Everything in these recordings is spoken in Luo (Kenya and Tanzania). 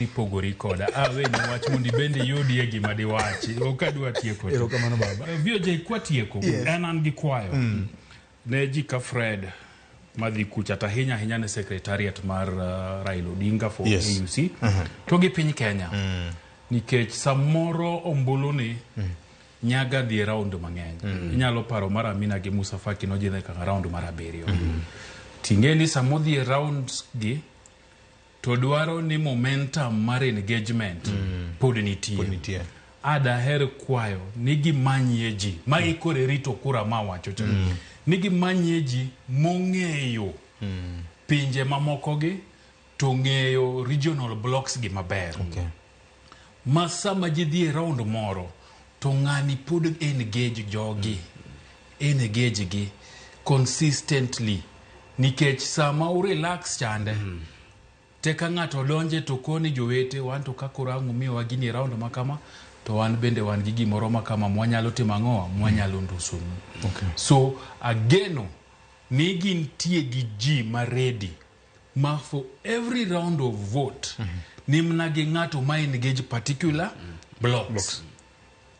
ipogori koda aweni ah, wach mondo ibende iyudie gima diwachi ok adwa tieko erokamano baba eh, vio jay kwatieko yes. en an gi kwayo mm. ne ji ka fred madhi kucha to ahinya ahinya ne secretariat mar uh, raila odinga for yes. auc uh mhm. -huh. to gi piny kenya mm. nikech samoro ombuluni mm. nyaga dhi e raund mang'eny mm. inyalo paro mar amina gi musa faki nojidhe kaka raund mar abiriyo mm. ting'e ni samodhi e rounds gi to dwaro ni momentum mar engagement mm. pod nitie. Pod nitie. Adaher kwayo ni gimanyie ji ma mm. ikore rito kura ma wacho cha mm. ni gimanyie ji mong'eyo mm. pinje mamokogi to ng'eyo regional blocks gi maber. Okay. Ma sama ji dhi e round moro to ng'ani pod engage jogi. Engage gi consistently nikech sama u relax chande te ka ng'ato donje to koni jowete wan to ka koro ang' umiyowa gini e round ma kama to wan bende wan gi gimoro ma kama mwanyalo timo ang'owa mwanyalo ndusonu. Okay. So ageno ni gintie gi ji ma ready. ma for every round of vote mm -hmm. ni mna gi ng'ato ma engage particular mm -hmm. blocks, blocks.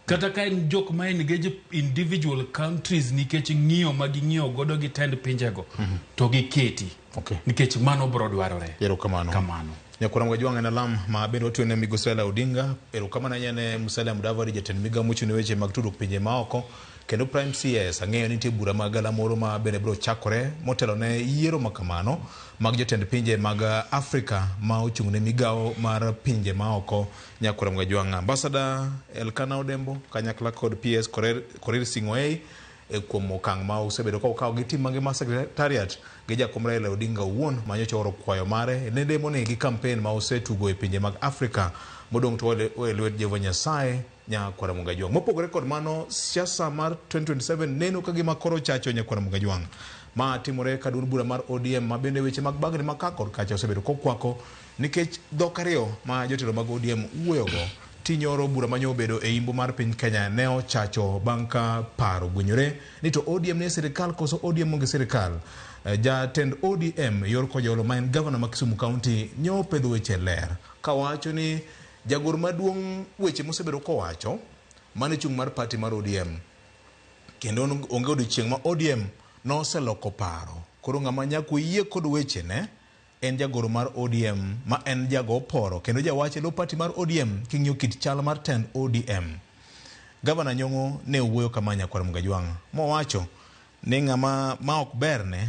kata ka en jok ma engage individual countries nikech ng'iyo ma ging'iyo godo gi tend pinjego mm -hmm. to giketi okay. nikech mano bro dwarore erokamano kamano nyakwara mwajwang' en alam ma bende watiyo ne migosi Raila Odinga erokamano ahinya ne Musalia Mudavadi jatend migawo mochung' ne weche mag tudruok pinje maoko Kendo Prime CS, ang'eyo ni nitie bura mag galamoro ma bende biro chakore motelo ne yiero ma kamano mag jotend pinje mag Afrika ma ochung' ne migawo mar pinje ma oko Nyakura Mgajwang', Ambasada Elkana Odembo, kanyakla kod PS Korir, Korir Sing'oei e kuom okang' ma usebedo ka ukawo gi tim mangima Secretariat gi jakom Raila Odinga owuon ma nyocha ooro kwayo mare ne lemoni gi kampen ma usetugo e pinje mag Afrika modong' to owe e lwet Jehova Nyasaye Nyakwar Mugajwang'. Mopogore kod mano, siasa mar 2027 neno ka gima koro chacho Nyakwar Mugajwang'. Ma timore ka duond bura mar ODM ma bende weche mag bagni ma ka kod kacha osebedo kokwako nikech dhok ariyo ma jotelo mag ODM wuoyogo. Tinyoro bura manyo obedo e imbo mar piny Kenya ne ochacho bang' ka paro gwenyore ni to ODM nie sirikal koso ODM onge sirikal. Eh, Jatend ODM Yor Kojolo ma en gavana ma Kisumu County nyo pedho weche ler kawacho ni Jagoro maduong' weche mosebedo kowacho mane chung' mar party mar ODM kendo onge odiochieng' ma ODM noseloko paro. Koro ng'ama nyaka oyie kod wechene en jagoro mar ODM ma en jago oporo kendo jawach e lo party mar ODM king'iyo kit chal mar tend ODM. Gavana Nyong'o ne owuoyo kama Nyakwar Mgajwang' mowacho ni ng'ama ma ok berne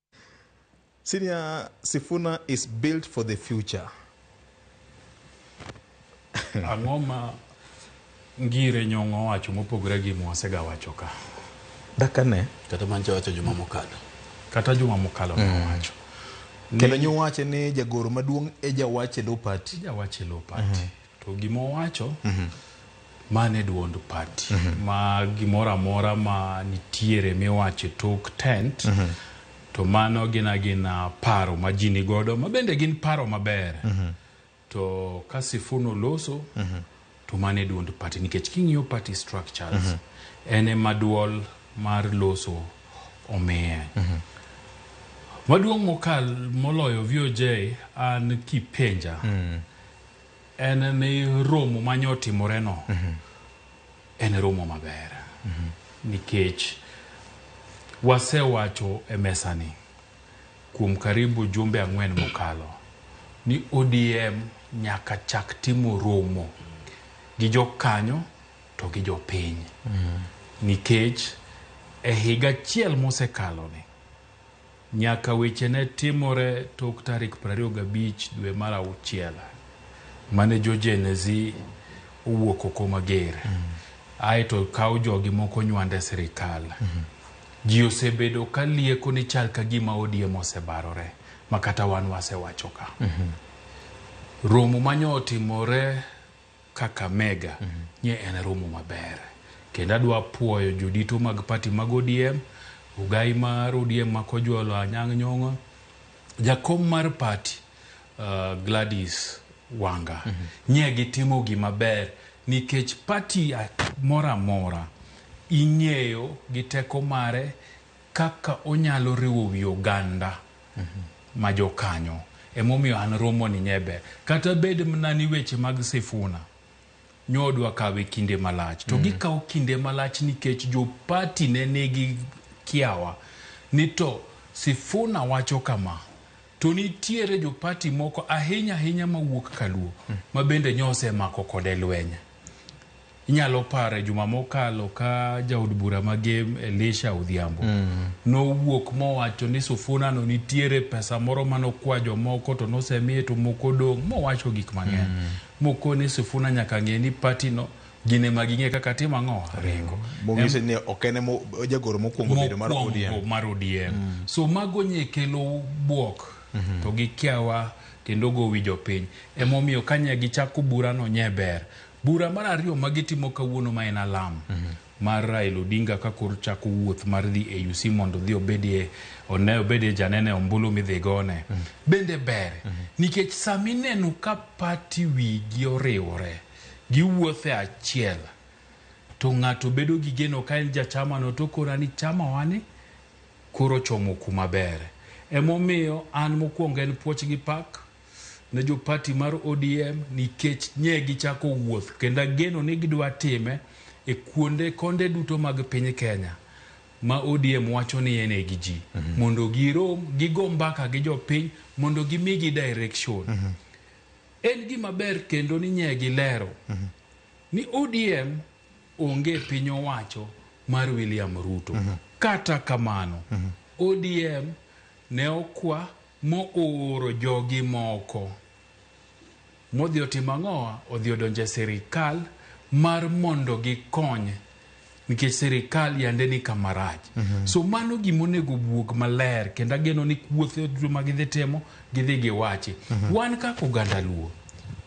Senior Sifuna is built for the future. Ang'o ma ngire nyong'o wacho mopogre gi mwasega wacho ka? Daka ne. Kata man chawacho juma mokalo. Kata juma mokalo mm. wacho. Kendo nyo wache ni jagoro maduong' e jawache lo party. Jawache lo party. Mm -hmm. To gima owacho mano e duond party ma gimoro amora ma nitiere miwacho e tok tent to mano gin agina paro ma ji nigodo ma bende gin paro maber to ka Sifuna oloso to mano e duond party nikech king'iyo party structures en ema duol mar loso omiye. Maduong' mokal moloyo VOJ an kipenja en ni romo ma nyo otimoreno en romo maber nikech wasewacho e mesani kuom karibu jumbe ang'wen mokalo ni ODM nyaka chak timo romo gi jokanyo to gi jopiny nikech e higa achiel mosekaloni Nyaka weche ne timore tok tarik prariyo gabich dwe mar auchiel, mane jo-Genezi owuok oko mager, ae to kawo jogi moko nywand e sirikal. Ji osebedo ka lieko ni chal ka gima ODM osebarore, ma kata wan wasewacho ka. Romo ma nyo otimore, Kakamega nye en romo maber kendo adwa puoyo jodito mag party mag ODM, Ogai mar ODM ma Kojolo Anyang' Nyong'o, jakom mar party uh, Gladys Wanga nye gitimo gima ber nikech party a- moro amora ing'eyo gi teko mare kaka onyalo riwo wi oganda ma jokanyo. Emomiyo an romoni nye ber. Kata bed mna ni weche mag Sifuna nyo odwa kawe kinde malach, to gikawo kinde malach nikech jo party ne nigi kiawa ni to Sifuna wacho kama, to nitiere jo party moko ahinya ahinya mawuok kaluo mabende nyo osemako kode lweny. Inyalo paro e juma mokalo ka jaod bura ma Gem Elisha Odhiambo mm. nowuok mowacho ni Sufuna no nitiere pesa moro mane okwa jomoko to nosemiye to moko dong' mowacho gik mang'eny mm. moko ni Sufuna nyaka ng'e ni pati no gine ma ging'e kaka timo ang'o ringo mong'ise ni ok en jagoro mokwongo bedo mar ODM mar ODM mm. so mago nye kelo bwok mm -hmm. to gi kiawa kendo go wijo piny emomiyo kanya gichako bura no nye ber Bura mar ariyo ma gitimo kawuono ma en alam mar Raila Odinga ka koro chako wuoth mar dhi e UC mondo odhi obedie one obedie janene ombulu midhi gone bende ber nikech sama ineno ka pati wigi oriwore giwuotho e achiel to ng'ato bedo gi geno ka en jachamano to kora ni chamawani koro ochomo kuma ber. Emomiyo an mokwongo en puoch gi pak. ne jo party mar ODM nikech nye gichako wuoth kendo ageno ni gidwa time e kuonde konde duto mag piny Kenya ma ODM wacho ni en gi ji mm -hmm. mondo girom gigo mbaka gi jopiny mondo gimigi direction mm -hmm. en gima ber kendo ni nye gilero mm -hmm. ni ODM onge piny owacho mar William Ruto mm -hmm. kata kamano mm -hmm. ODM ne okwa Mooro jogi moko. Modhi otimo ang'o? Odhi odonjo e sirikal mar mondo gikony nikech sirikal yande ni kama rach. Mm -hmm. So mano gima onego buog maler kendo ageno ni kuothe duto ma gidhi timo gidhi giwachi. Mm -hmm. Wan kaka oganda Luo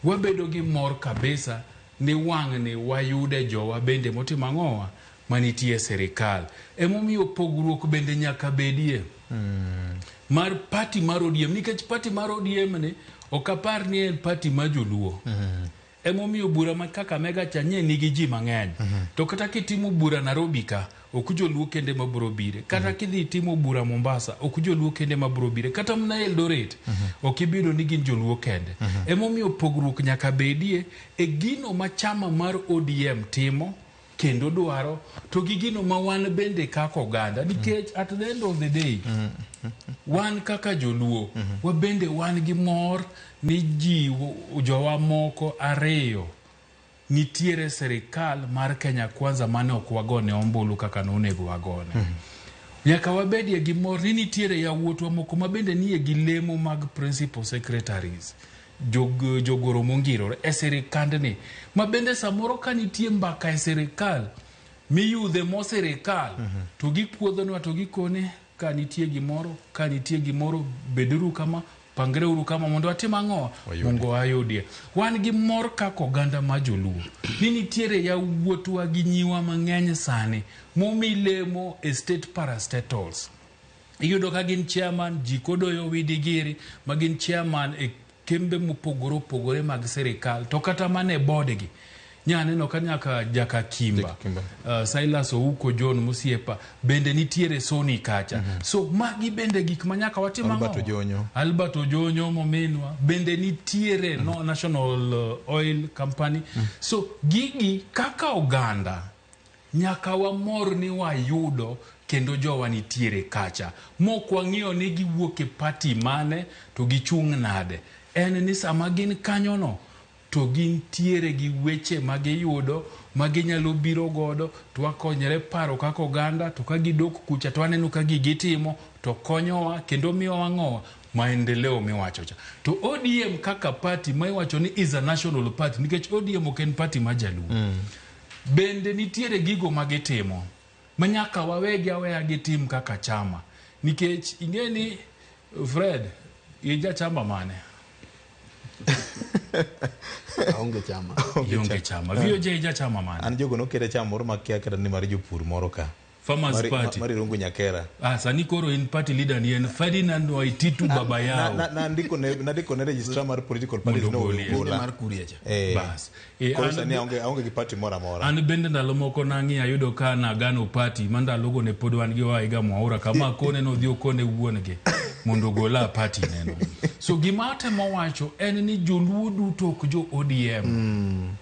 wabedo gi mor kabisa ni wang'ni wayude jowa bende motimo ang'owa manitie e sirikal. Emomiyo pogruok bende nyaka bedie mm. mar pati mar ODM nikech pati mar ODM ni ok apar ni en pati ma joluo mm. Emomiyo bura ma Kakamega cha nye nigi ji mang'eny mm -hmm. to kata kitimo bura Nairobi ka ok joluo kende ma biro bire kata mm -hmm. kidhi timo bura Mombasa ok joluo kende ma biro bire kata mana Eldoret mm -hmm. ok ibido ni gin joluo kende mm -hmm. Emomiyo pogruok nyaka bedie e gino ma chama mar ODM timo kendo dwaro to gi gino ma wan bende kaka oganda nikech at the end of the day wan kaka joluo wabende wan gi mor ni ji jowa moko ariyo nitiere serikal mar kenya kwanza mane ok wagone ombulu kaka nonego wagone nyaka wabedie gi mor ni nitiere yawuotwa moko ma bende nie gi lemo mag principal secretaries jog jogoro mongirore e sirikandni ma bende samoro ka nitie mbaka e sirikal miyudhe mo sirikal mm -hmm. to gikuodhonwa to gikone ka nitie gimoro ka nitie gimoro beduru kama pangre uru kama mondo atim ang'o mongo ayudie wan gi mor kaka oganda ma joluo ni nitiere yawuotwa gi nyiwa mang'eny sani momi lemo e state parastatals Iyudo ka gin chairman ji kodoyo widi giri ma gin chairman e kembe mopogore opogore mag sirikal to kata mana e bodgi nya neno ka nyaka jaka kimba uh, silas ouko john musiepa bende nitiere soni kacha mm -hmm. so magi bende gik ma nyaka watim albert ojonyo albert ojonyo mominwa bende nitiere mm -hmm. no national uh, oil company mm -hmm. so gigi kaka oganda Nyaka wamor ni wayudo kendo jowa nitiere kacha mok wang'iyo ni giwuok e party mane to gichung' nade. En ni sama gin kanyono to gintiere gi weche ma giyudo ma ginyalo biro godo to wakonyre paro kaka oganda to ka gidok kucha to waneno ka gigi itimo to konyowa kendo miyo wang'owa maendeleo miwacho cha. To ODM kaka party ma iwacho ni is a national party nikech ODM ok en party ma jaluo. Bende nitiere gigo ma gitimo ma nyaka wawegi aweya gitim kaka chama nikech ing'e ni Fred in jachama mane? aonge chama Ionge chama. VOJ jachama mane? an jogo nokete chama moro makia kata ni mar jopur moro ka Farmers Mari- Party. Mari Rungu Nyakera. Ah, sani koro in party leader ni en Ferdinand Waititu baba Na- yao. na- na ndiko ne- na ndiko ne registrar mar political parties Mondo no ogolie. Ogola. Kinde mar kuria cha. Eh, Bas. Eh, koro an- sani aonge aonge gi party moro amora an bende ndalo moko nang'i ayudo ka nagano pati ma ndalogo ne pod wan gi waiga mwaura kama kone nodhi okone wuon gi mondo ogola pati neno so gima atemo wacho en ni joluo duto ok jo odm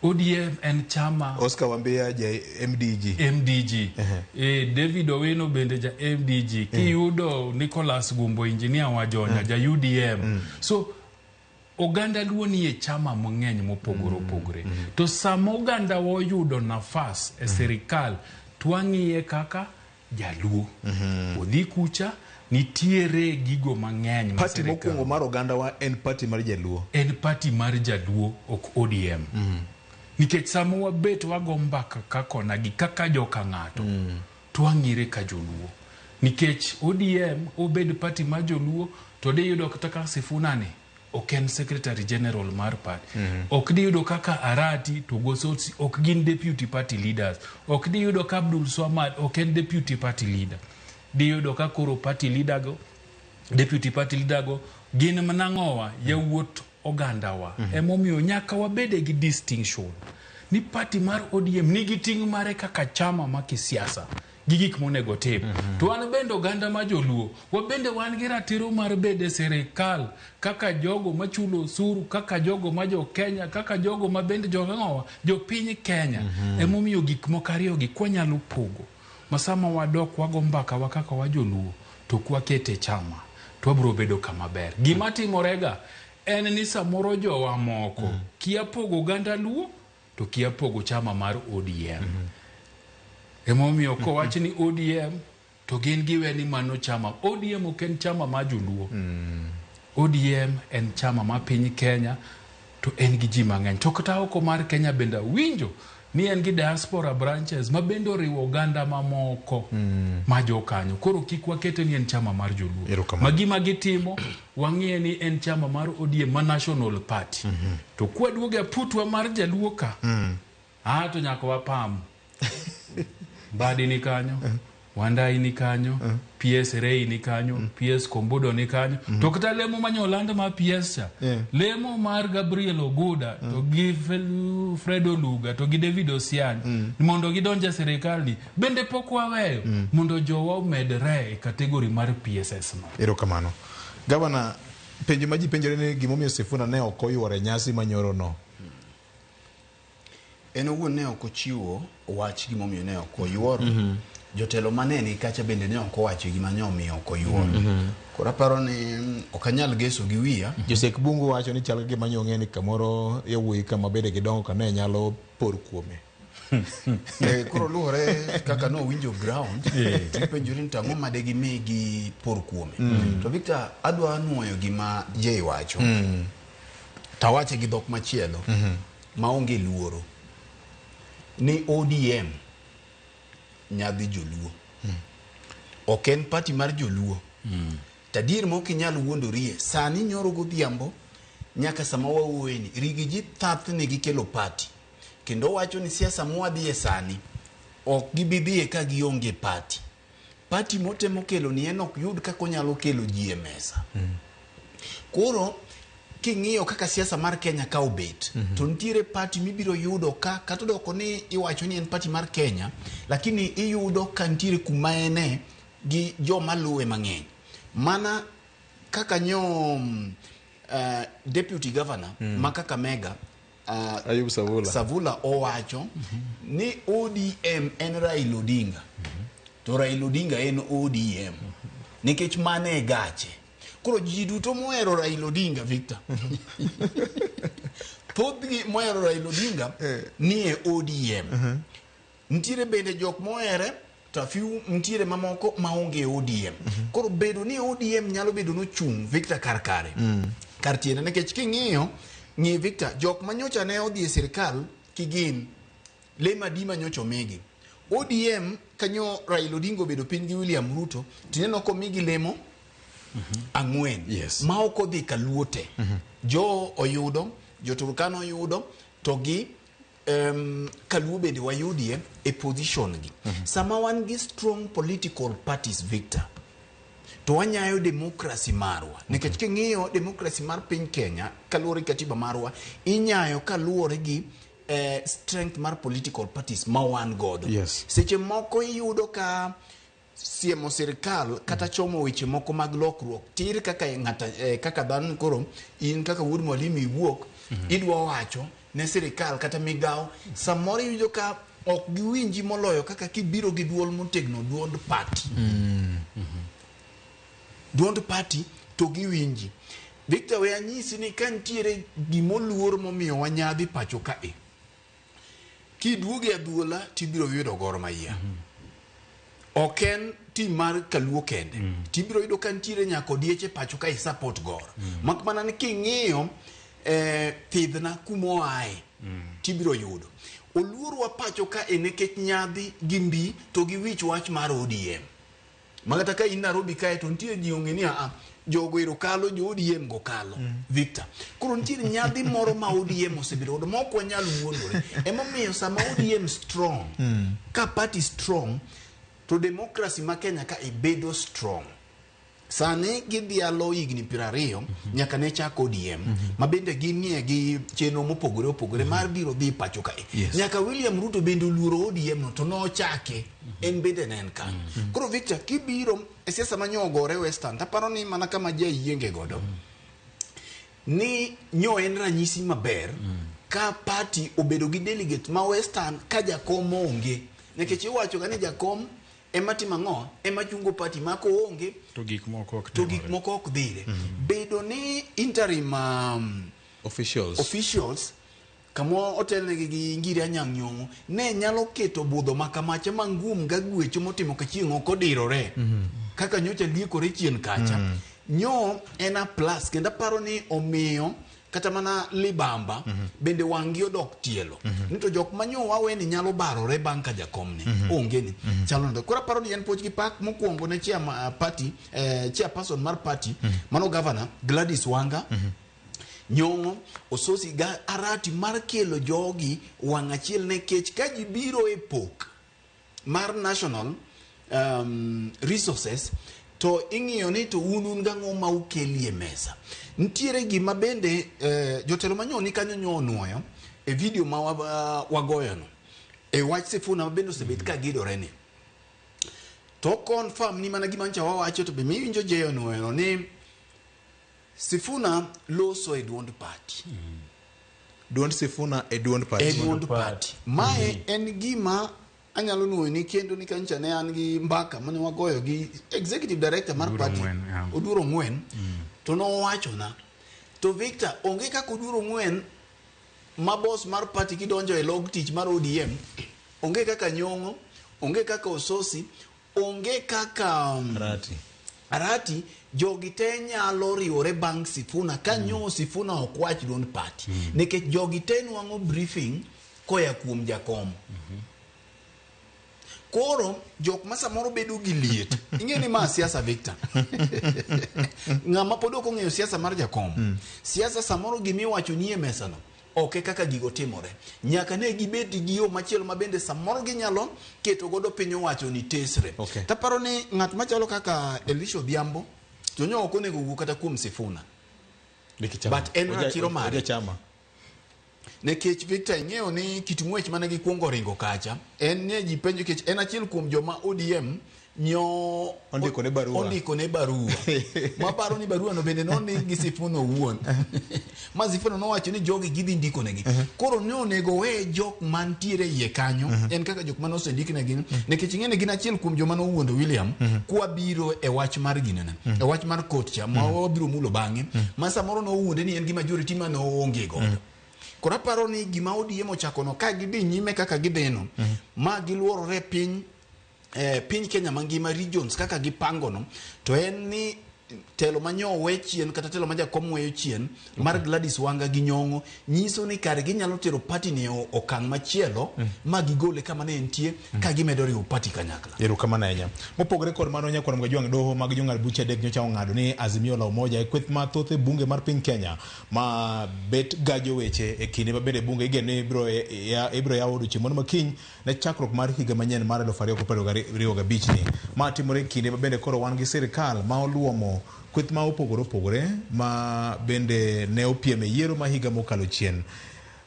ODM en chama. Oscar Wambia ja MDG. MDG. Uh -huh. E, David Owino bende ja MDG. Eh. Kiyudo uh -huh. Nicholas Gumbo engineer wa Jonya uh eh. -huh. ja UDM. Uh mm. -huh. So oganda luo ni e chama mang'eny mopogore mm. opogore. Mm. To sama oganda oyudo nafas e mm. sirikal twang'iye kaka Jaluo. Odhi kucha nitiere gigo mang'eny ma Pati sirikal- mokwongo mar ogandawa en pati mar Jaluo. en pati mar jaluo ok odm nikech sama wabet wago mbaka kakona gi kaka joka ng'ato to wang'ire ka joluo nikech odm obed pati mar joluo to diyudo kata ka sifunani ok en secretary general mar party mm -hmm. ok diyudo kaka arati to gosotsi ok gin deputy party leaders ok diyudo ka abdul swamad ok en deputy party leader diyudo ka koro party leader go deputy party leader go gin manang'owa yawuot ogandawa mm -hmm. emomiyo nyaka wabede gi distinction ni party mar odm nigi ting' mare kaka chama ma kisiasa gi gik monego otim. Mm -hmm. To wan bende oganda ma joluo, wabende wan gi ratiro mar bedo e sirikal kaka jogo machulo osuru, kaka jogo ma jo Kenya, kaka jogo ma bende jong'owa, jo piny Kenya. Mm -hmm. Emomiyo gik moko ariyogi kwanyalo pogo. Masama wadok wago mbaka wa kaka wa joluo, to kwakete chama, to wabiro bedo kama ber. Gima timorega en ni samoro jowa moko mm. kia pogo oganda luo to kia pogo chama mar ODM. Emomiyo kowach ni ODM to gin giwe ni mano chama. ODM ok en chama ma joluo. ODM en chama ma piny Kenya to en gi ji mang'eny. To kata oko mar Kenya bende awinjo ni en gi diaspora branches ma bende oriwo oganda mamoko ma jokanyo. Koro kik wakete ni en chama mar joluo. Erokamano. Ma gima gitimo Wang'eye ni en chama mar ODM ma National Party. To kwaduogo e aputwa mar Jaluo ka, ah, to nyaka wapam. Mbadi ni kanyo, Wandai ni kanyo, PS Rei ni kanyo, PS Kombudo ni kanyo. To kata lemo ma Nyolanda ma PS cha, Yeah. lemo mar Gabriel Oguda to gi Fel- Fred Oluga to gi David Osiany mondo gidonj e sirikal ni Bende pok waweyo mondo jowa omedre e kategori mar PSS no. Erokamano. Gavana, penjo ma ji penjore ni gimomiyo Sifuna ne ok oyuoro e nyasi ma nyorono. En owuon ne ok ochiwo wach gimomiyo ne ok oyuoro. Jotelo ma ne ni kacha bende ne ok owacho gima ne omiyo ok oyuoro. Koro aparo ni mm, ok anyal geso gi wiya. Josek Bungu wacho ni chal gi gima nyong'e ni kamoro yawuoyi kama bende gidongo ka ne nyalo por kuome. Eh, koro luwore kaka ne owinjo ground tipenjori ni to ang'o ma degimi gi por kuome to victor adwa nwoyo gima jay wacho tawache gi dhok machielo maonge luoro ni odm nyadhi joluo ok en pati mar joluo tadier ma ok inyal wuondorie sani nyoro godhiambo nyaka sama wawuoyeni rigi ji thathni gikelo pati kendo owacho ni siasa mwadhiye sani ok gibidhiye ka gionge pati pati motemo kelo ni en ok yud kaka onyalo kelo ji e mesa koro king'iyo kaka siasa mar kenya ka obet mm -hmm. to nitiere pati mibiro yudo ka kata odoko ni iwacho ni en pati mar kenya lakini iyudo ka nitiere kuma ene gi joma luwe mang'eny mana kaka nyom uh, deputy governor mm. ma kakamega uh, Ayub Savula. Savula owacho mm -hmm. ni ODM en Raila Odinga mm -hmm. to Raila Odinga en ODM mm -hmm. nikech mane gache koro ji duto mohero Raila Odinga Victor thothgi mohero Raila Odinga eh. nie ODM mm -hmm. Nitiere bende jok mohere to a few nitiere mamoko maonge ODM. Koro bedo ni ODM nyalo bedo nochung' Victor kar kare. Kar tiende nikech king'iyo ng'i Victor jok manyocha ne odhi e sirkal kigin le madima nyocha omigi. ODM kanyo Raila Odinga obedo piny gi William Ruto tineno komigi lemo ang'wen Yes. ma ok odhi kaluote. Jo oyudo, jo Turkana oyudo to gi um, kaluo bende wayudie e position gi mm -hmm. sama wan gi strong political parties victor to wanyayo demokrasi marwa nikech mm -hmm. king'iyo demokrasi mar piny kenya kaluwore gi katiba marwa inyayo kaluwore gi eh, strength mar political parties ma wan godo yes. seche moko iyudo ka siemo sirkal kata chomo weche moko mag lokruok tir kaka e ng'ata eh, kaka dhano koro in kaka wuod mwalimu iwuok idwa wacho ne sirkal kata migawo samoro iyudo ka ok giwinji moloyo kaka kibiro gi duol motegno duond party duond party to giwinji victor we anyisi ni ka nitiere gimoluor momiyo wanyadhi pacho ka e Kiduogo e adhuola tibiro yudo Gor Mahia. Ok en tim mar Kaluo kende. Tibiro yudo ka nitiere nyaka odieche pacho ka i support Gor. Mak mana ni king'iyo eh, thidhna kuma oaye tibiro yudo. Oluorwa pacho ka e nekech nyadhi gi mbi to gi wich wach mar ODM. ma kata ka in Nairobi kae to nitie ji ong'e ni aa jogo ero kalo jo ODM go kalo mm. Victor koro nitie nyadhi moro ma ODM osebedo godo ma ok wanyal wuondore emomiyo sama ODM strong mm. ka party strong to democracy ma Kenya ka ibedo strong sani gidhialo higni piero ariyo mhm. nyaka ne chak ODM mhm. ma bende ginie gi chenro mopogore opogore mhm. mar biro dhi pacho kae nyaka William Ruto bende oluoro ODM no to nochake en bende ne en kanyo mm. koro victor kibiro e siasa ma nyogore western taparo ni mana kama ji ayienge godo mm. ni nyo en ranyisi maber mm. ka party obedo gi delegate ma western ka jakom onge nikech iwacho ga ni jakom ema timo ang'o ema chungo party ma ko onge to gik moko ok to gik moko ok dhire mm. bedo ni interim um, officials officials kama otelnegi gi ngiri anyang' nyong'o, ne nyalo keto budho makamacha mangum ga gwecho motimo ka chieng' ok odirore mhm. kaka nyocha liekore chien kacha. Mm. Nyo en a plus kendo aparo ni omiyo kata mana libamba mm -hmm. bende wangi odok tielo mm -hmm. nito jok manyo wawe ni nyalo barore bang ka jakom ni mm -hmm. onge ni mm -hmm. chalo ndo kora paro ni en poch gi pak mokuongo ne chia uh, party eh, chia person mar party mm -hmm. mano governor Gladys Wanga mm -hmm. Nyong'o ososi ga arati mar kelo jogi wang' achiel ne kech ka ji biro e pok mar national um, resources to ing'iyo ni to un un gang'o ma ukelie mesa. Nitiere gima bende eh, jotelo manyo ni kanyo nyo onwoyo e video ma wa- wagoyono e wach Sifuna ma bende osebet ka gidore ni to confirm ni mana gima ncha wawacho to be miwinjo jeyo nweno ni Sifuna loso e duond party. Duond Sifuna e duond party. E duond party. Mae mm -hmm. en gima anyalo nwoyo ni kendo ni kancha ne an gi mbaka mane wagoyo gi executive director mar party Oduro Ngwen mm. to nowacho na to Victor onge kaka Oduro Ngwen ma boss mar party kidonjo e log tich mar ODM onge kaka nyongo onge kaka ososi Onge kaka um, Arati. Arati jogi te nyalo riwore bang' Sifuna ka nyo Sifuna ok wach duond party nikech jogi te nwang'o briefing koya kuom jakom. Koro jok ma samoro bedo gi liet. Ing'e ni ma siasa Victor. Ng'ama pod ok ong'eyo siasa mar jakom. Siasa samoro gima iwacho nie mesano Ok e kaka gigo timore. Nyaka ne gibed gi yo machielo ma bende samoro ginyalo keto godo piny owacho ni tesre. Okay. Taparo ni ng'at machalo kaka Elisha Odhiambo to nyo ok onego wuo kata kuom Sifuna. Liki chama. But en Oja- ratiro mare. oja chama. Nikech Victor ing'eyo ni kit ng'wech mane gikwongo ringo kacha en ne ji penjo nikech en achiel kuom joma ODM nyo Ondikone barua. ondikone barua maparo ni baruano bende nondik gi sifuno owuon ma sifuno nowacho ni jogi gidhi ndikonegi koro ne onego owe jok mantiere e iye kanyo en kaka jok mane osendiknegi nikech ing'e ni gin achiel kuom joma nowuondo william kwabiro e wach mar ginene e wach mar kot cha ma wabiro mulo bang'e ma samoro nowuonde ni en gi majority ma noonge godo koro aparo ni gima odiem ochakono ka gidhi nyime kaka gidheno ma giluorore piny eh, piny Kenya mangima regions kaka gipango no to en ni telo ma nyo we chien kata telo ma jakom weyo chien mar Gladys Wanga gi Nyong'o nyiso ni kare ginyalo tero party ni o- okang' machielo ma gigole kama ne entie ka gimedo riwo party kanyakla. erokamano ahinya mopogore kod mano nyakwar mga jwang' doho mag jong'ad buche adek nyocha ong'ado ni azimio la umoja e kweth mathoth e bunge mar piny kenya ma bet gajo weche e kinde ma bende bunge igeno ni ibiro ya- ibiro yaw odiochieng' moro makiny ne chakruok mar higa manyien mar 2025 ni ma timore e kinde ma bende koro wan gi sirikal ma oluomo kweth ma opogore opogore ma bende ne opiem e yiero ma higa mokalo chien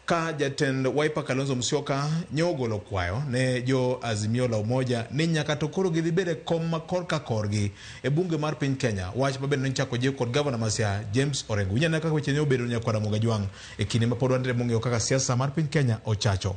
ka jatend Wiper Kalonzo Musyoka nyo ogolo kwayo ne jo Azimio la Umoja ni nyaka to koro gidhi bedo e kom ma kor ka korgi e bunge mar piny Kenya, wach ma bende nochako jiw kod gavana ma Siaya James Orengo. Winyo ane kaka weche ne obedo ne Nyakwa Ramogi Ajwang' e kinde ma pod wan e mong'eyo kaka siasa mar piny Kenya ochacho.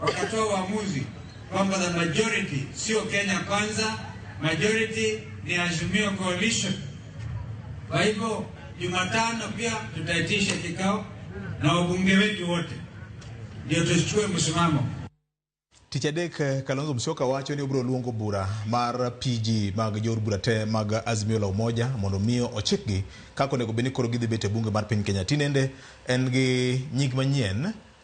wakatoa uamuzi kwamba the majority sio Kenya Kwanza, majority ni Azimio Coalition. Kwa hivyo Jumatano pia tutaitisha kikao na wabunge wetu wote ndio tuchukue msimamo. Tich adek eh, Kalonzo Musyoka wacho ni obiro luongo bura mar PG mag jood bura te mag Azimio la Umoja mondo mi ochikgi kaka onego bed ni koro gidhi bet e bunge mar piny Kenya. Tinende en gi nying manyien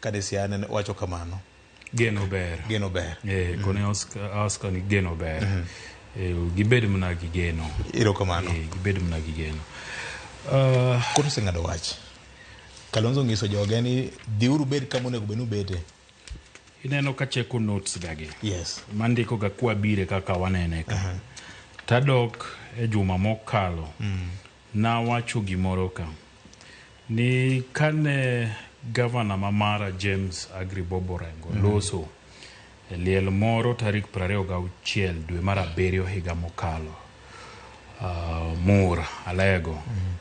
Kane Siana ne wacho kamano, Geno ber. geno ber. Eh, kone Oscar, Oscar ni geno ber. Eh, gibed mna gi geno. Ero kamano. Eh, gibed mna gi geno. Ah, Koro oseng'ado wach. Kalonzo nyiso joge ni dhiuru bed kama onego bed ni ubete. ineno ka cheko notes gagi. Yes. Mandiko ga kwa bire kaka wanene ka. Tadok e juma mokalo. Nawacho gimoro ka ni kane gavana ma Mara James Agribobo Orengo mm. loso e liel moro tarik 26 dwe mar abiriyo higa mokalo uh, Mur Alego mm.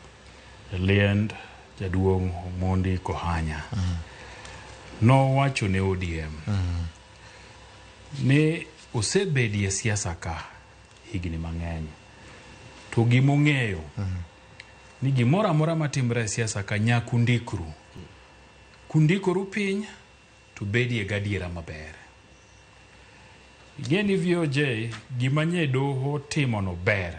e liend jaduong' Omondi Kohanya mm. nowacho ne ODM mm. ni osebedie siasa ka higni mang'eny to gima ong'eyo ni gimoro amora matimre e siasa ka nyaka undikru kundikoru piny to bedie gadiera maber ing'e ni VOJ gima nye doho timono ber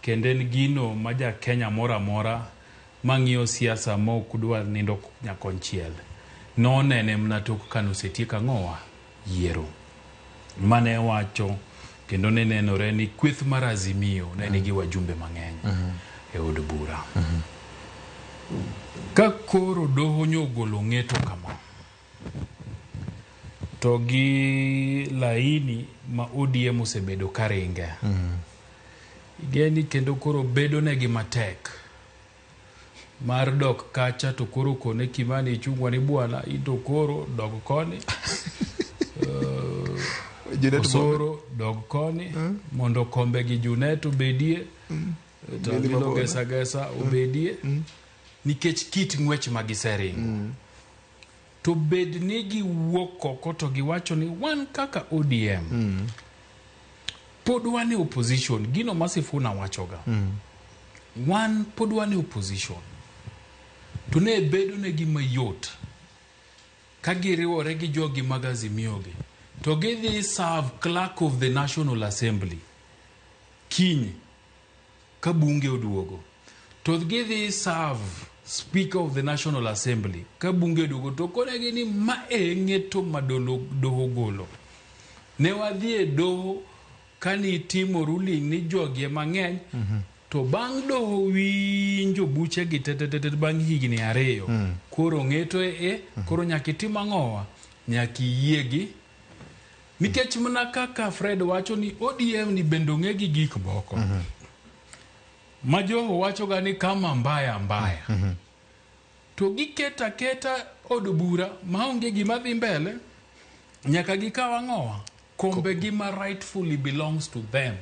kendo en gino ma ja Kenya moro amora mang'iyo siasa ma ok dwa nindo nyakonchiel nonene mana tok kanosetiek ang'owa yiero mane wacho kendo ne nenore ni kweth mar Azimio ne nigi wajumbe mang'eny e od bura. Ka koro doho nyogolo ng'eto kama, to gi laini ma ODM osebedo ka ringe, igeni kendo koro bedonegi matek mar dok kacha to koro kone kimani ichungwa ni bwana into koro dog koni uh, osoro dog koni eh? mondo kombe gi junet obedie mm. to abilo gesa gesa mm. obedie mm. nikech kit ng'wech ma giseringo mm. To bed ni giwuok oko to giwacho ni wan kaka ODM mm. pod wan e opposition, gino ma Sifuna wachoga mm. wan pod wan e opposition, to ne bedo ne gi mayot ka giriwore gi jogi mag Azimio gi to gidhi serve clerk of the National Assembly kiny ka bunge oduogo to gidhi serve speaker of the national assembly ka bunge oduogo to konegi ni ma e ng'eto ma doho golo ne wadhi e doho kani itimo ruling ni jogi e mang'eny mm -hmm. to bang' doho winjo buche gi tetetete bang' higni ariyo mm. koro ng'eto e, e mm -hmm. koro nyaka itim ang'owa nyaka iyie gi Nikech mna kaka Fred wacho ni ODM ni bende ong'e gi gik moko. Mm -hmm. Majoho wachoga ni kama mbaya mbaya. Mm -hmm. To giketa keta od bura maonge gima dhi mbele nyaka gikaw ang'owa kombe gi ma rightfully belongs to them.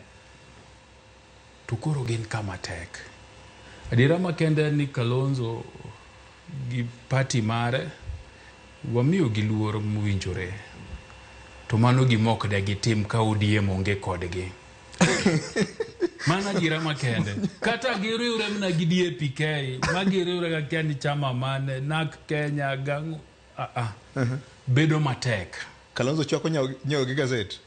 to koro gin kama tek. Adiera makende en ni Kalonzo gi pati mare wamiyo gi luor mowinjore to mano gima ok de gitim ka ODM onge kodgi. Mano adiera makende. Kata giriwre mana gi DAPK ma giriwre ga kia ni chama mane NAK Kenya gang'o ah, ah. bedo matek. Kalonzo chwako nyawo nyawo gi gazet.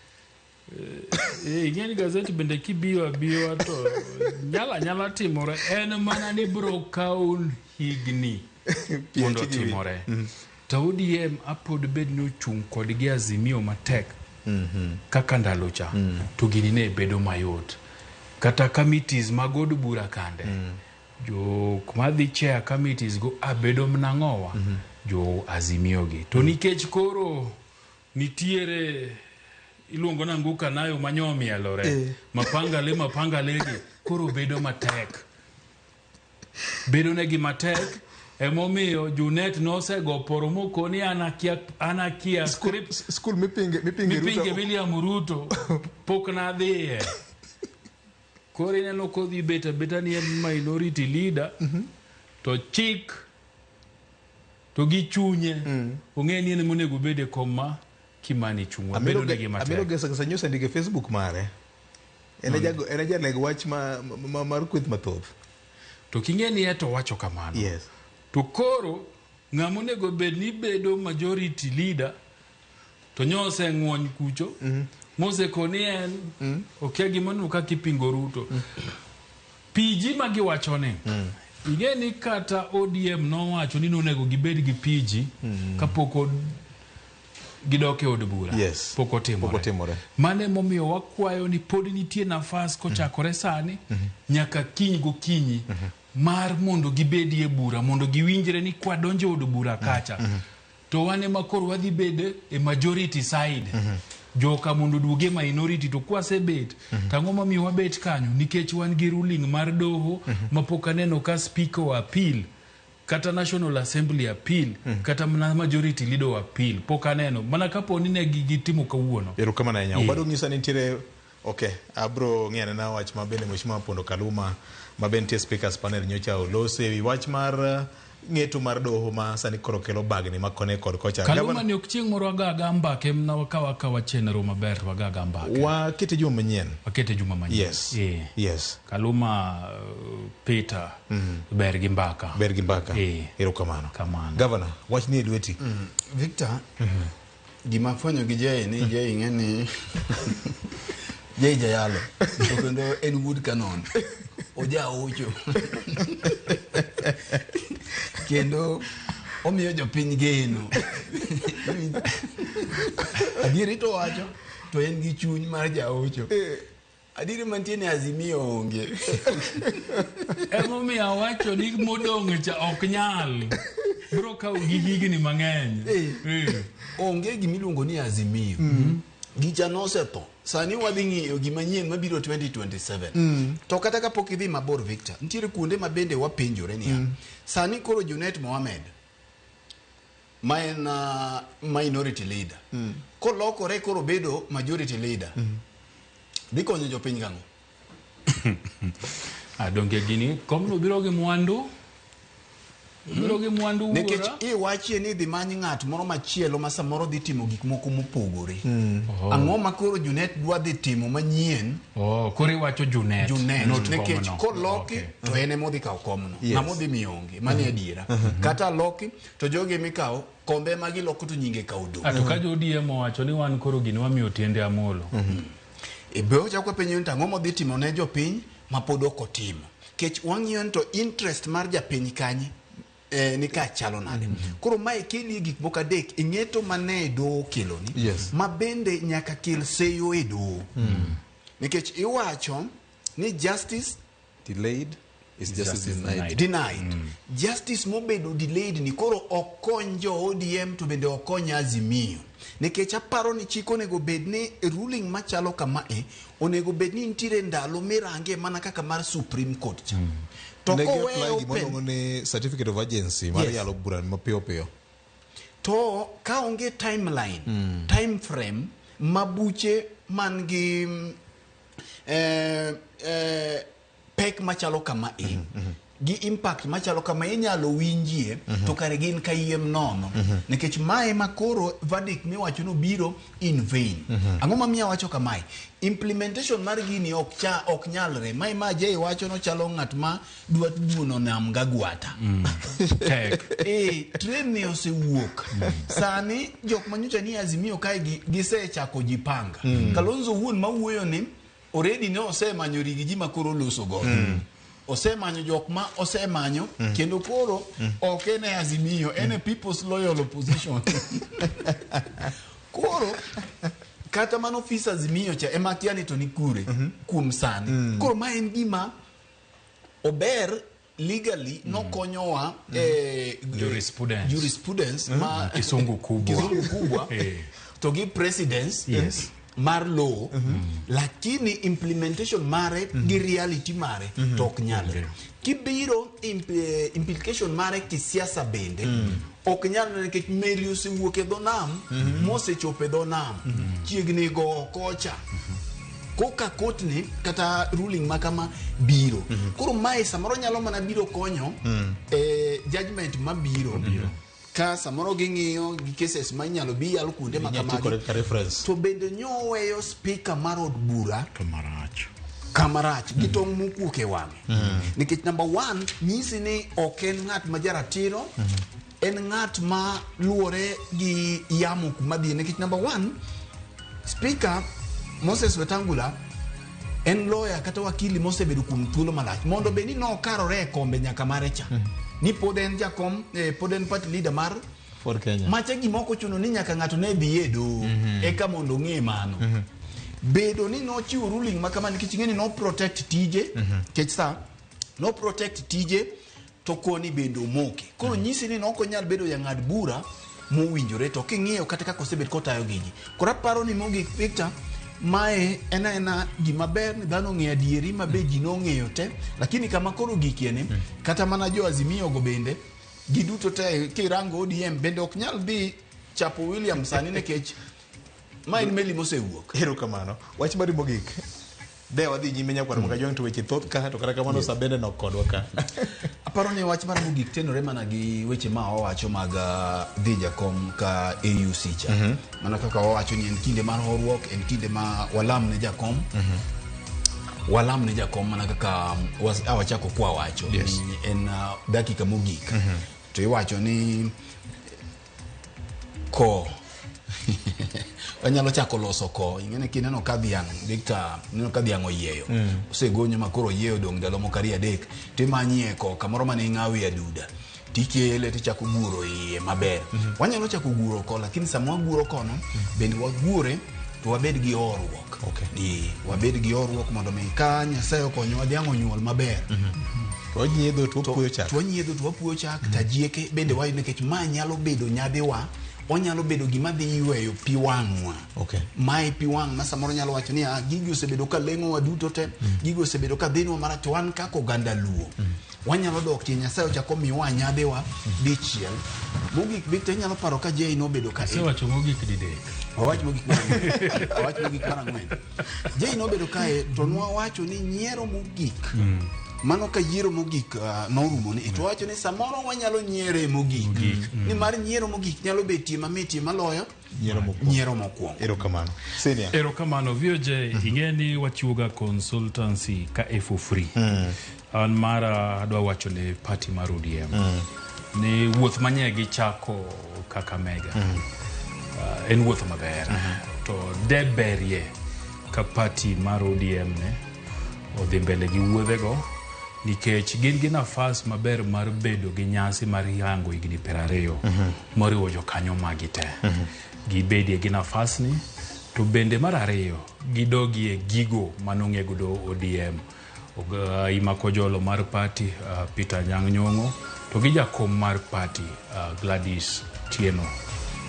Eh, ing'e ni gazeti bende kibiyo abiwa to nyalo anyala timore en mana ni biro kawo higni mondo otimore mm. to odm apod bed ni ochung' kodgi azimio matek mm-hmm. kaka ndalo cha mm. to gini ne bedo mayot kata committees mag od bura kande mm. jok madhi chair committees go abedo mnang'owa mm-hmm. jo azimiogi to nikech koro Nitiere iluongo na nguka nayo manyo omielore eh. mapanga le mapanga le gi koro bedo matek bedo ne gi matek emomiyo junet nosego poro moko ni anakia anakia script school mipinge mipinge mipinge William Ruto pok na dhiye kore ne loko dhi beta beta ni minority leader mm -hmm. to chik To gi chunye ong'eyo ni en ema onego obed e kom ma Kimani chung'wa. Amelo Bedo ge- negi Amelo matek. Gesa Gesa News ndike Facebook mare. En e jago- en e jaleg wach ma- ma- mar kweth mathoth. To king'e ni eto wacho kamano. Yes. To koro ng'ama onego bed ni bedo majority leader to nyo oseng'wony kucho mm. mosekoni en mm. okia gimanu ka kipingo ruto mm. piji ma giwachoni mm. ing'e ni kata odm nowacho ni nonego gibed gi piji mm. kapok gidok e od bura yes. pok otimore mano emomiyo wakwayo ni pod nitie nafas kochakore mm. sani mm -hmm. nyaka kiny gokinyi mm -hmm. mar mondo gibedie bura mondo giwinjre ni kwadonjo od bura kacha mm -hmm. to wan ema koro wadhi bed e majority side mm -hmm. joka mondo duoge minority to kwasebet mm -hmm. tang'o mamiyo wabet kanyo nikech wan gi ruling mar doho mm -hmm. mapok aneno ka speaker wa appeal kata national assembly appeal mm -hmm. kata mana majority leader wa appeal pok aneno mana kapo ni ne gitimo kawuono erokamano ahinya yeah. obado ng'isa ni nitiere Ok, abro ng'iyo anena wach ma bende Mheshimiwa Pondo Kaluma ma bende nitie speakers panel nyocha olose e wi wach mar eh, ng'eto mar doho ma sani koro kelo bagni ma kone kod kocha. Kaluma Gavana- ni ok chieng' moro agaga mbake mna wakawa akawa chenro maber to wagaga mbake. Wakete juma manyien. Wakete juma manyien. Yes. Eh. Yes. Kaluma uh, Peter ber gi mbaka. Ber gi mbaka. Eh. Erokamano. Kamano. Gavana, wach ni e lweti. Victor, Gima afwenyo gi Jay ni Jay ing'e ni Jay jayalo to kendo en wuod Kanon oja ocho kendo omiyo jopiny geno adieri to wacho to en gi chuny mar jaocho Adieri mantie ni Azimio onge. Emomiyo awacho ni modong' cha ok nyal. Bro kawo gi higni mang'eny. Eh. Eh. Onge gimiluongo ni Azimio. Mm-hmm. Gicha nosetho. Sani wadhi ng'iyo gima nyien mabiro 2027. Mm. To kata kapok idhi mabor Victor, nitiere kuonde ma bende wapenjore niya. Mm. Sani koro Junet Mohamed ma en uh, minority leader mm. kolokore koro bedo majority leader mm. dhi konyo jopiny gang'o adonge ah, gini komno biro gi mwandu hmm? biro gi mwandu wuora nikech iwachie ni dhi many ng'at moro machielo ma samoro dhi timo gik moko mopogore mm. oh. ang'o ma koro junet dwa dhi timo manyien oh, koro iwacho junet junet nikech koloki okay. to en emodhi kawo komno yes. ng'ama odhi mionge mani mm. adiera mm -hmm. kata loki to jogi mikawo kombe ema giloko to nyinge ka odong. Ato ka jo ODM owacho ni wan koro gini wamiyo tiende Amolo. Mhm. E be ocha kwa penyo nta ngomo dhi timo ne jopiny ma pod ok otimo. Kech wang'iyo to interest mar japiny kanyi eh, ni ka chalo nade. Mm -hmm. Koro mae keli gik moko adek ing'eto mane do kelo ni. Yes. Ma bende nyaka kel seyo e do. Mm. Nikech iwacho ni justice Delayed is justice, justice denied. Denied. Mm. Justice mobedo delayed ni koro ok kony jo ODM to bende ok kony Azimio. Nikech aparo ni chik onego bed ni ruling machalo kama e onego bed ni nitiere ndalo mirange mana kaka mar Supreme Court cha. Mm. To kowe open ni certificate of urgency mar yes. yalo bura mapiyo piyo. To ka onge timeline, mm. time frame mabuche man gi eh, eh, pek machalo kama e mm -hmm. gi impact machalo kama inyalo winjie mm -hmm. to kare gin kayiem nono mm -hmm. nikech mae ma koro verdict miwacho no biro in vain mm -hmm. ang'o mamiyo wacho kamae implementation mar gini ok cha ok nyalre mae ma jay wacho no chalo ng'at ma dwa duono nam gagwata mm. tek eh train ni osewuok mm. sani jok manyocha ni azimio kae gisechako jipanga mm. kalonzo wuon mawuoyo ni already ne osemanyo rigi ji makoro loso go mm. osemanyo jok ma osemanyo mm. kendo koro mm. ok en e azimio en e mm. people's loyal opposition koro kata mano ofis azimio cha ema kia ni to ni kure mm -hmm. kuom sani mm. koro ma en gima ober legally nokonyowa eh, Jurisprudence. jurisprudence ma Kisungu kubwa. Kisungu kubwa Eh. to gi precedence Yes. mar law lakini implementation mare gi reality mare to ok nyalre kibiro imp- eh, implication mare kisiasa bende ok nyalre nikech meli osewuok e dho nam mosechopo e dho nam chiegni go kocha koka kotni kata ruling ma kama biro koro mae samoro nyalo mana biro konyo e judgment ma biro ka samoro ging'iyo gi cases ma inyalo bi yalo kuonde ma Inyalo ti kode kamagi kaka reference. to bende nyoweyo spika mar od bura Kamarach. kamarach gi tong' mokuok e wang'e nikech number one nyisi ni ok en ng'at ma jaratiro en ng'at ma luwore gi yamo kuma dhie nikech number one speaker moses wetangula en loya kata wakili mosebedo kuom thuolo malach mondo bed ni nokarore e kombe nyaka mare cha ni pod en jakom eh, pod en party leader mar For Kenya. Macha gima ok ochuno ni nyaka ng'ato ne dhi e doho eka mondo ong'e mano. Bedo ni nochiwo ruling ma kama nikech ing'e ni no protect tije kech sa no protect tije to koni bende omoke. Koro nyisi ni ok onyal bedo jang'ad bura mowinjore to king'iyo kata kaka osebed kotayo gigi. Koro aparo ni mogik Victor mae en aena gima ber ni dhano ong'eyo adieri ma be ji nong'eyo te lakini kama koro gikieni kata mana jo azimio go bende giduto te kirango ODM bende ok nyal dhi chapo William sani nikech ma en meli mosewuok. Ero kamano. Wach mari mogik. De wadhi nyime nyakwar maka jong to weche thoth ka to kata kamano sabende nok kodwa ka. Aparo ni wach mara mogik tenore mana gi weche ma owacho mag uh, dhi jakom ka AUC cha. Mm -hmm. Mana kaka wawacho ni en kinde mar horuok, en kinde ma walam ne jakom. Walam ne jakom mana kaka was- a wachako kwa wacho Yes. ni en uh, dakika mogik to iwacho ni ko wanyalo chako loso ko ingene kineno ka dhiang' Victor neno ka dhiang' oyieyo osegonyo ma koro oyieyo dong' ndalo moko ariyo adek to imanyie ko kamoro mane ing'awie aduda tikele tichako guro iye maber wanyalo chako guro ko lakini sama waguro kono bende wagure to wabed gi horuok Okay. Ee, wabed gi horuok mondo mi ka nyasaye okonyowa dhiang' onyuol maber To wanyiedho to wapuoyo chak. to wanyiedho to wapuoyo chak tajieke bende wayo nikech ma nyalo bedo nyadhiwa onyalo bedo gima dhi yweyo pi wang'wa Okay. mae pi wang' ma samoro nyalo wacho ni "Ah, gigi osebedo ka leng'owa duto te gigi osebedo ka dhinwa marach to wan kaka oganda luo wanyalo dok tie nyasaye ochako miwa anyadhiwa dichiel mogik bik to inyalo paro ka jei nobedo ka asewacho mogik didek wawach mogik mar ang'wen. wawach mogik mar ang'wen jei nobedo kae to nwawacho ni nyiero mogik mano ka yiero mogik ah, norumo ni to wawacho ni samoro wanyalo nyiere mogik nimar nyiero mogik nyalo betie mamitie maloyo nyiero mokwongo. nyiero mokwongo Erokamano. Senior. erokamano VOJ ing'e ni wachiwoga consultancy ka e for free an mara adwa wacho ne party mar ODM ni wuoth manye gichako Kakamega uh, en wuoth maber to deberie ka party mar ODM ne odhi mbele gi wuodhego nikech gin gi nafas maber mar bedo gi nyasi mar yango higni piero ariyo moriwo jokanyo magi te gibedie gi nafasni to bende mar ariyo gidogie gigo manong'e godo odm Oga- imako jolo mar pati uh, peter nyang' nyong'o to gi jakom mar pati uh, gladys tieno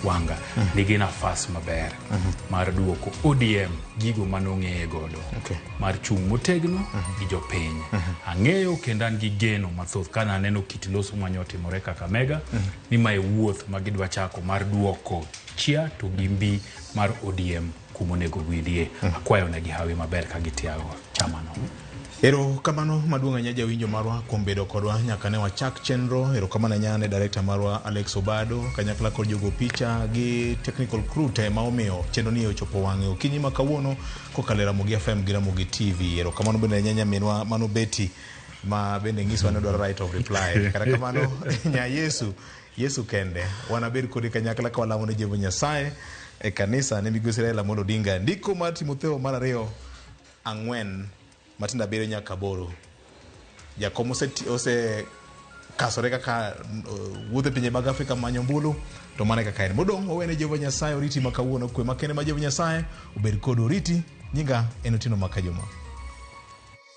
wanga nigi nafas maber mar duoko odm gigo manong'eye godo Okay. mar chung' motegno gi jopiny ang'eyo kendo an gi geno mathoth kana aneno kit loso manyo otimore kakamega ni mae wuoth ma gidwa chako mar duoko chia to gi mbi mar ODM kuma onego gwidhie. Akwayo ne gi hawi maber ka gitiago chama no. Erokamano maduong' ahinya jawinjo marwa kuom bedo kodwa nyaka ne wachak chenro. Erokamano ahinya ne director marwa Alex Obado, kanyakla kod jogo picha gi technical crew te ma omiyo chenro ni ochopo wang'e okinyi ma kawuono kokalo e Ramogi FM gi Ramogi TV. Erokamano bende ne nyaminwa Mano Betty ma bende nyiso ni odwaro right of reply kata kamano nya yesu yesu kende wanabed kodi kanyakla ka walamo ne jehova nyasaye e kanisa ne migosi raila amolo odinga ndiko mar timotheo mar ariyo ang'wen matindo abiriyo nyaka aboro jakom oseti- osekasore kaka uh, wuodhe pinje mag afrika manyo mbulu to mane kaka en modong' owene jehova nyasaye oriti ma kawuono kwe makende ma jehova nyasaye obed kod oriti nyinga en otieno ma kajuma